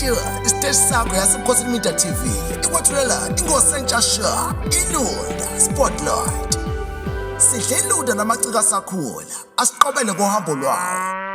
Katiwa isiteshi sakho yasebukhosini media tv ikwethulela inkosi entsha sha ilunda spotlight sidle ilunda namaciko asakhula asiqobele kohambo lwawo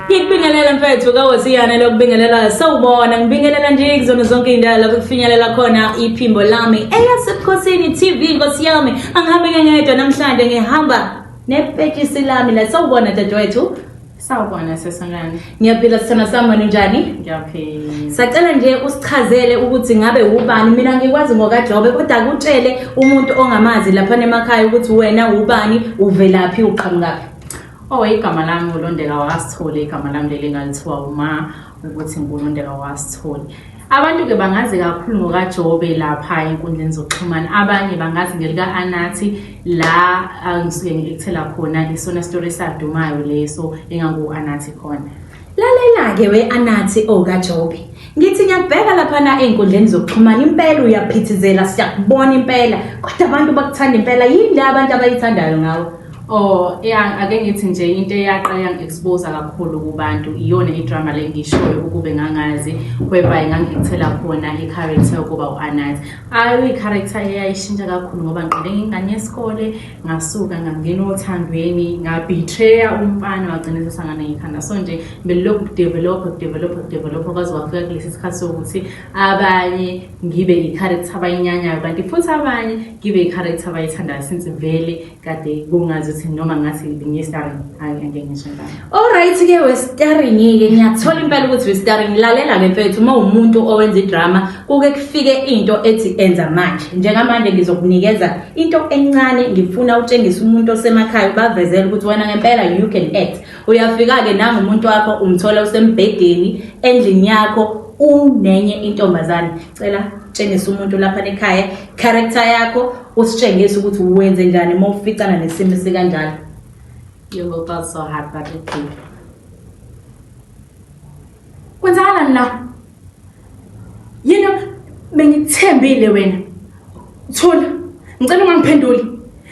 ngikubingelela mfethu kawoziyana lokubingelela sawubona ngibingelela nje kuzona zonke iy'ndawo lapho kufinyelela khona iphimbo lami eyasebukhosini tv nkosi yami angihambe ngengedwa namhlanje ngihamba nepetshisi lami la sawubona dadewethu Sawubona sesanani. Ngiyaphila sithana sami wena unjani? Ngiyaphila. Sacela nje usichazele ukuthi ngabe ubani mina ngikwazi ngokaJobe kodwa kutshele umuntu ongamazi lapha emakhaya ukuthi wena ubani uvelaphi uqhamukaphi. Oh igama lami uLondeka wakasithole igama lami leli ngalithiwa uma ukuthi uNkulunkulu awasitholi Abantu ke bangazi kakhulu ngokaJobe lapha enkundleni zokuxhumana abanye bangazi ngelika Anathi la angisuke ngikuthela khona isona story sadumayo leso engangu Anathi khona Lalela ke we Anathi okaJobe oh, Ngithi ngiyabheka lapha na einkundleni zokuxhumana impela uyaphithizela siyakubona impela kodwa abantu bakuthanda impela yini le abantu abayithandayo ngawe Oh yeah ake ngithi nje into eyaqa yang expose kakhulu kubantu iyona idrama le ngishoyo ukube ngangazi whereby ngangikuthela khona i character ukuba uAnat ayo i character eyayishintsha kakhulu ngoba ngiqale ngingane yesikole ngasuka ngangena othandweni ngabetrayer umfana wagcina sesangana ngikhanda so nje belokhu develop develop develop kwaze kwafika kulesi sikhathi sokuthi abanye ngibe i character abayinyanyayo kanti futhi abanye ngibe i character abayithandayo since vele kade kungazi ukuthi noma ngathi ngiyistaring hayi angeke ngisho ngalo Alright ke westaring ke ngiyathola impela ukuthi westaring lalela ke mfethu uma umuntu owenza idrama kuke kufike into ethi enza manje njengamanje ngizokunikeza into encane ngifuna utshengisa umuntu osemakhaya ubavezele ukuthi wena ngempela you can act uyafika ke nangu umuntu wakho umthola usembhedeni endlini yakho unenye intombazane cela tshengisa umuntu lapha ekhaya character yakho usitshengise ukuthi wenze njani uma uficana nesimo sikanjalo You will go so hard, but it will. kwenzakalani la yini bengithembile wena thula ngicela ungangiphenduli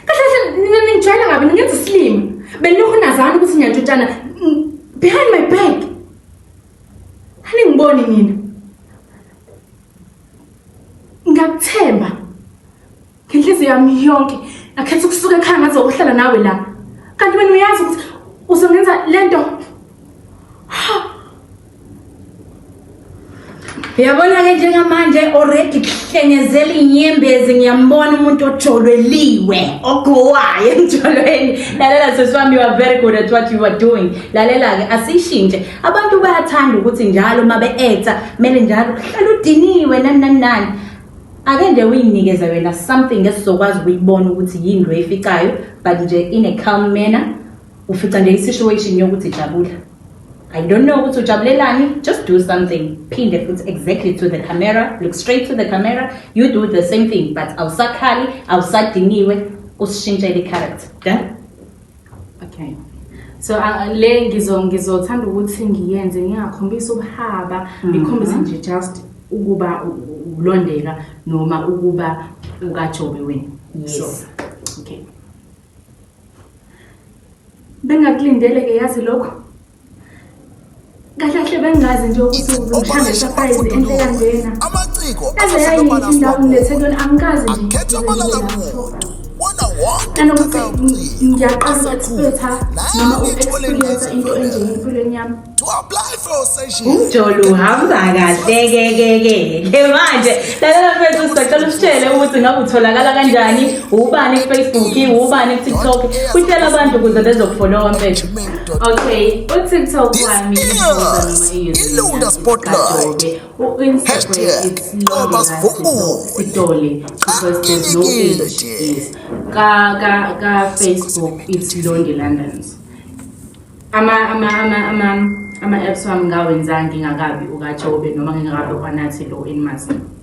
kahle kahle nina ningijwayela kabi ningenza isilima benilokhu nazana ukuthi ngiyantshutshana mm, behind my back aningiboni nina Ngiyakuthemba. Ngenhliziyo yami yonke ngakhetha ukusuka ekhaya ngaze ukuhlala nawe la. Kanti wena uyazi ukuthi uzongenza lento. Yabona ke njengamanje already kuhlengezela inyembezi ngiyambona umuntu ojolweliwe ogowayo emjolweni lalela sesiwami you are very good at what you are doing lalela ke asishintshe abantu bayathanda ukuthi njalo uma be-acta kumele njalo uhlale udiniwe nani nani nani ake nje uyinikeze wena something esizokwazi ukuyibona ukuthi yini loyificayo but nje in a calm manner ufica nje i-situation yokuthi jabula I don't know ukuthi ujabulelani just do something phinde futhi exactly to the camera look straight to the camera you do the same thing but awusakhali awusadiniwe usishintshele i-character done Okay. So uh, le ngizo ngizothanda ukuthi ngiyenze ngingakhombisa ubuhaba mm-hmm. ngikhombise nje just ukuba ulondeka noma ukuba ukajobe wena. Yes. So, okay. Bengakulindele ke yazi lokho. kahle kahle bengazi nje ukuthi uzomhlanga surprise enhle kanjena amaciko aze yayinhle indawo nethekweni angikazi nje nanokuthi ngiyaqala ukuexpetha noma uexperiensa into enje empilweni yami umjolo uhamba kahlekekekeke manje lalela mfethu sisacela usitshele ukuthi ngabe utholakala kanjani ubani kufacebook ubani kutiktok utshela abantu ukuze bezokufolowa mfethu Okay, uTikTok wami ilunda spotlight. Hashtag Thomas Vumbu. Idoli because there's no age is. Ka ka ka Facebook it's Lonely Londons. Ama ama ama ama ama apps wami ngawenzanga ngingakabi ukaJobe noma ngingakabi kwanathi lo in Mazimu.